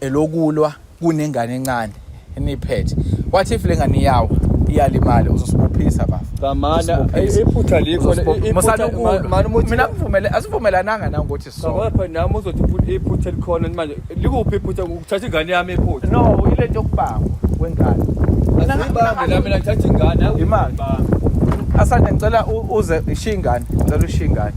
elokulwa kunengane encane eniphethe what if lengane iyawa iyalimala uzosibophisa bafa Kamana iphutha likho mina ngivumele asivumelananga na ukuthi so ngapha nami uzothi iphutha iphutha likhona manje likuphi iphutha ukuthatha ingane yami iphutha no ilento yokubangwa kwengane mina ngibambe la mina ngithatha ingane imali asanda ngicela uze ishiya ingane ngicela ushiya ingane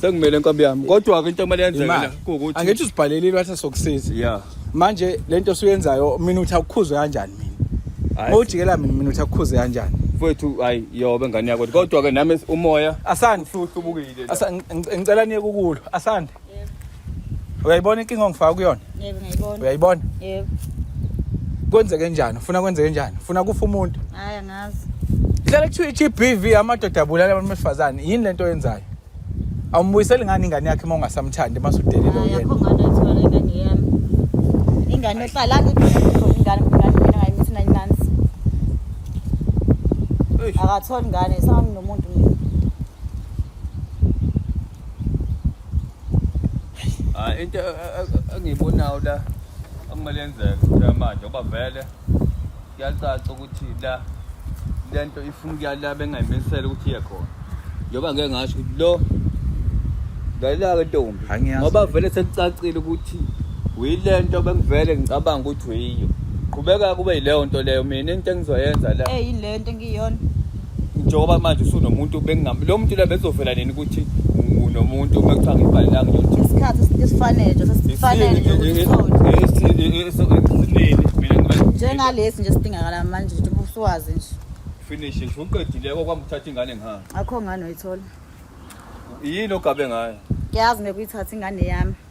Sekumele nkabi yami. Kodwa ke into okumele yenzeke la ukuthi angithi usibhalele ilwatha sokusiza. Yeah. Manje lento osuyenzayo mina uthi akukhuzwe kanjani mina. Mawujikela mina mina uthi akukhuzwe kanjani. Mfowethu hayi yobe ngane yakho kodwa ke nami umoya asande futhi ubukile. Ngicela niye kukulo asande. uyayibona inkinga ongifaka kuyona yebo ngiyayibona uyayibona yebo kwenzeke njani ufuna kwenzeke njani ufuna kufa umuntu hayi angazi hlala kuthiwa i-gbv amadoda abulala abantu besifazane yini le nto oyenzayo awumbuyiseli ngani ingane yakhe uma ungasamthandi uma sudelile Hayi, uyena akho ngane ethiwa le ngane yami ingane ehlala ingane ingane ngayimithi nine months Eish. akatholi ngane sanginomuntu mina Ah into engiyibonayo la akumele yenzeke la manje ngoba vele kuyacaca ukuthi la lento ifuna ukuya la bengayimisela ukuthi iye khona. Njengoba ngeke ngasho ukuthi lo Ngayilaka ntombi. Angiyazi. Ngoba vele sekucacile ukuthi uyilento bengivele ngicabanga ukuthi uyiyo. Qhubeka kube yileyo nto leyo mina into engizoyenza la. Eyi lento ngiyona. njengoba manje usunomuntu bengingam lo muntu la bezovela nini ukuthi nomuntu uma kuthiwa ngibhalelanga nje isikhathi esifanele nje sesifanele nje ukuthi sithole esinele mina ngiba njengalesi nje sidingakala manje nje ubusuwazi nje finish nje uqedile okwamthatha ingane ngihamba akho ngane oyithola yini ogabe ngayo ngiyazi ngekuyithatha ingane yami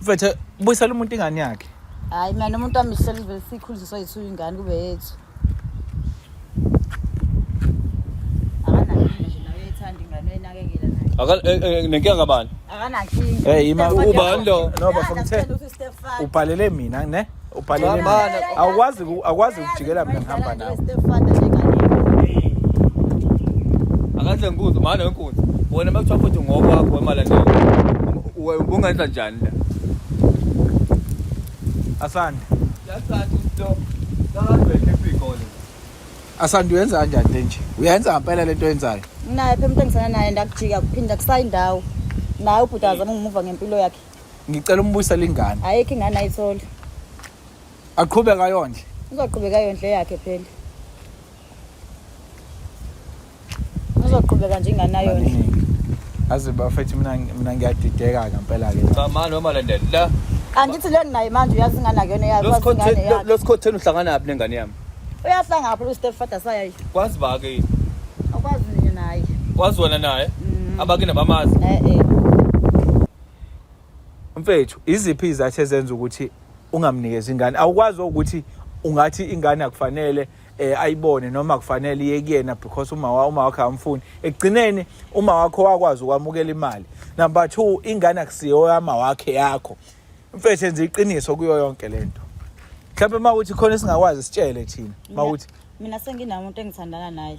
mfethu buyisela umuntu ingane yakhe hayi mina umuntu wami selivele sikhulisiswa yethu ingane kube yethu Akan eh, eh, nenkinga kabani? Akanankinga. Eh ima ubani lo? No bafo ngithe. Ubhalele mina ne? ubhalele awukwazi awukwazi ukujikela mina ngihamba nawe akahle nkunzi manje nkunzi wena makuthiwa futhi ngokwakho emalandela ubungenza njani la asande asande uyenza kanjani le nje uyenza ngampela le nto oyenzayo naye phe umuntu engisana naye ndakujika kuphinda kusayindawo naye ubhuti azama ngumuva ngempilo yakhe ngicela umbuyisela ingane ayikho ingane ayithole aqhubeka yondle uzoqhubeka yondle yakhe phela uzoqhubeka nje ingane ayondle aze bafethu mina mina ngiyadideka ngempela ke cha ma noma landela la angithi le nginayo manje uyazi ingane akuyona yakho losikhotheni uhlangana yaphi nengane yami uyahlanga ngapha ustep father sayayo kwazi ba ke akwazi nina naye kwazi wena naye mm. abakini abamazi eh eh mfethu iziphi izathu ezenza ukuthi ungamnikezi ingane awukwazi ukuthi ungathi ingane akufanele eh ayibone noma kufanele iye kuyena because uma wa uma wakhe amfuni ekugcineni uma wakho wakwazi ukwamukela imali number 2 ingane akusiyo yama wakhe yakho mfethu enza iqiniso kuyo yonke lento mhlawumbe uma uthi khona singakwazi sitshele thina uma uthi mina senginamuntu engithandana naye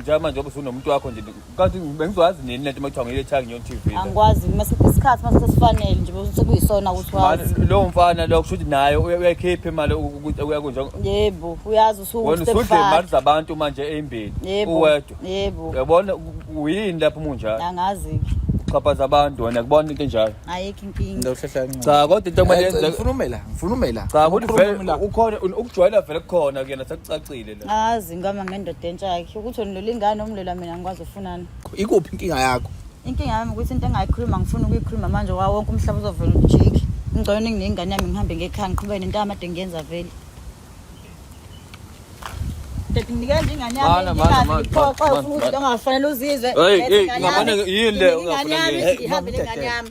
njengamanje njengoba usunomuntu wakho nje kanti bengizoyazi nini lento uma kuthiwa ngile Thang Nyon TV angikwazi masiphi isikhathi mase sesifanele nje bese kuyisona ukuthi wazi Manje, lowo mfana lo kusho ukuthi naye uya- uyayikhipha imali ukuthi uyakunje yebo uyazi usuke wena usudle imali ustepfather zabantu manje eyimbili yebo uwedwa yebo uyabona u- u- uyini lapho munjalo angazi uxhaphaza abantu wena kubona into enjalo ayikho inkinga Ngizowuhlehla kancane. cha kodwa into okumele Eh, yenzeke Ngifuna umela, ngifuna umela. cha ukuthi Ukhuluma vele umela. ukhona ukujwayela vele kukhona kuyena sekucacile Ngazi ngama ngendoda entsha yakhe ukuthi onilola ingane omlola mina ngikwazi ufunani. Ikuphi inkinga yakho? Inkinga yami ukuthi into engayikhuluma ngifuna ukuyikhuluma manje wawo wonke umhlaba uzovela ujiki. Ngicela ningingane yami ngihambe ngekhaya ngiqhubeke nento yamade ngiyenza vele. Dad nginikela nje ingane yami. Mana, mana, mana, Ngiphoxe mana, futhi mana. ongafanele uzizwe. Hey, Dad, hey, ingane ngabane yami. yini le Nginikela ingane ongafuna yami, ngiyenze? Ihambe ingane yami.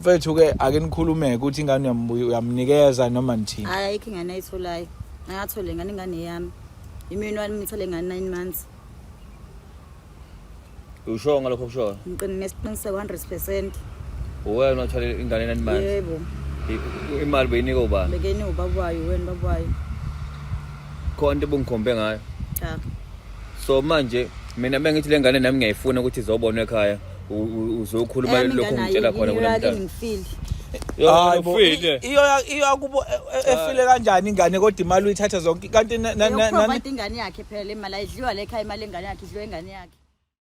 mfethu ke ake nikhulumeke ukuthi ingane uyamnikeza noma nithini hayi ayikho ingane ayitholayo angathole ngane ingane yami imini wami ngithole ngane 9 months usho ngalokho kushoyo ngiqine nesiqiniseko 100% uwena othole ingane 9 months yebo imali beyinika ubani bekeni ubaba wayo wena baba wayo khona into ebungikhombe ngayo cha so manje mina bengithi lengane nami ngiyayifuna ukuthi izobonwa ekhaya uzokhuluma eh, lokho ngitshela khona kulo mntana hayi bo iyakubo e- e- efile kanjani ingane kodwa imali uyithatha zonke kanti ingane yakhe phela le mali ayidliwa le khaya imali engane yakhe idliwa ingane yakhe